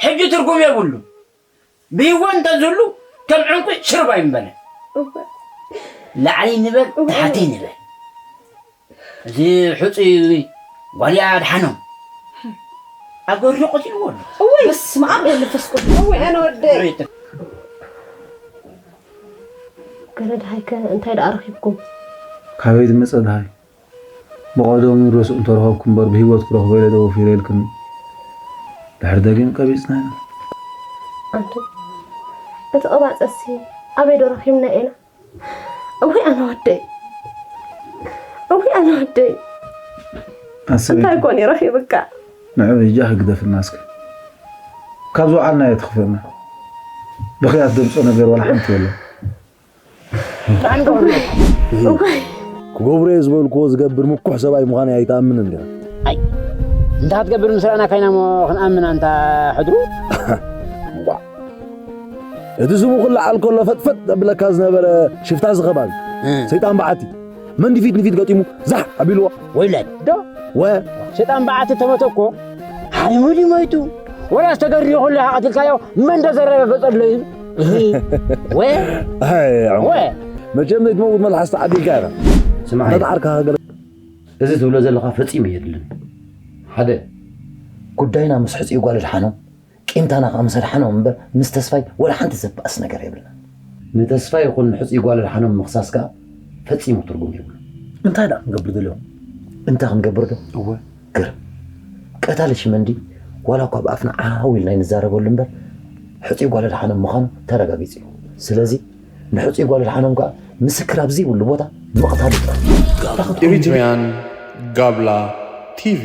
ሕጂ ትርጉም የብሉን ብሂወት እንተዝህሉ ከም ዕንቊ ሽርብ ኣይምበለን ላዕሊ ንበል ታሕቲ ንበል እዚ ሕፁይ ጓልያ ኣድሓኖም ኣብ ገርዶ ቀቲልዎ ኣሎ እወይ በስመ ኣብ ወመንፈስ ቅዱስ እወይ ኣነ ወደይ ገለ ድሃይከ እንታይ ደኣ ረኺብኩም ካበይ ዝመፀ ድሃይ ብቀደሙ ርእሱ እንተረኸብኩ እምበር ብሂወት ክረኽቦ ኢለ ዶ ወፊረ ኢልክን ድሕር ደጊም ቀቢጽናዮ። ኣንቱ እቲ ቅባጸሲ ኣበይ ዶ ረኺብናዮ ኢና እውይ ኣነ ወደይ እውይ ኣነ ወደይ እንታይ ኮን ይረኺብካ ንዕብ ሂጃ ክግደፍና እስከ ካብ ዝውዓልናዮ ትኽፈና ብኽያት ደምጾ ነገር ዋላ ሓንቲ የለን ክገብሮ እየ ዝበልክዎ ዝገብር ምኩሕ ሰብኣይ ምዃነይ ኣይትኣምንን ዲኻ? እንተ ክትገብር ምስ ረኣና ካይና እሞ ክንኣምን ኣንታ ሕድሩ እንቋዕ እቲ ስሙ ክለዓል ከሎ ፈጥፈጥ ዘብለካ ዝነበረ ሽፍታ ዝኸባቢ ሰይጣን በዓቲ መን ድፊት ንፊት ገጢሙ ዛሕ ኣቢልዎ ወይለን ዶ ወ ሸጣን በዓቲ ተመቶ እኮ ሓሪሙ ድዩ ሞይቱ ወላ ዝተገድዮ ኩሉ ኢኻ ቀቲልካዮ መን ዶ ዘረጋገጸሉ እዩ ወ ወ መቸም ዘይትመውት መልሓስ ተዓዲልካ ኢኻ ስማዕ ነትዓርካ ገለ እዚ ትብሎ ዘለኻ ፈጺሙ የድልን ሓደ ጉዳይና ምስ ሕጽኡ ጓል ድሓኖ ቂምታና ከኣ ምስ ኣድሓኖም እምበር ምስ ተስፋይ ወላ ሓንቲ ዘባእስ ነገር የብልናን። ንተስፋይ ይኹን ንሕጹይ ጓል ኣድሓኖም ምኽሳስ ከኣ ፈጺሙ ትርጉም የብሉን። እንታይ ደኣ ክንገብር ደልዮም? እንታይ ክንገብር ዶ? እወ ግርም! ቀታሊ ሽመንዲ ዋላ እኳ ብኣፍና ዓው ኢልና ኣይንዛረበሉ እምበር ሕጹይ ጓል ኣድሓኖም ምዃኑ ተረጋጊጹ እዩ። ስለዚ ንሕጹይ ጓል ኣድሓኖም ከኣ ምስክር ኣብ ዘይብሉ ቦታ ምቕታሉ ጥራሕ እዩ። ኣታ ክትኮኑ እንድዩ! Eritrean Gabla TV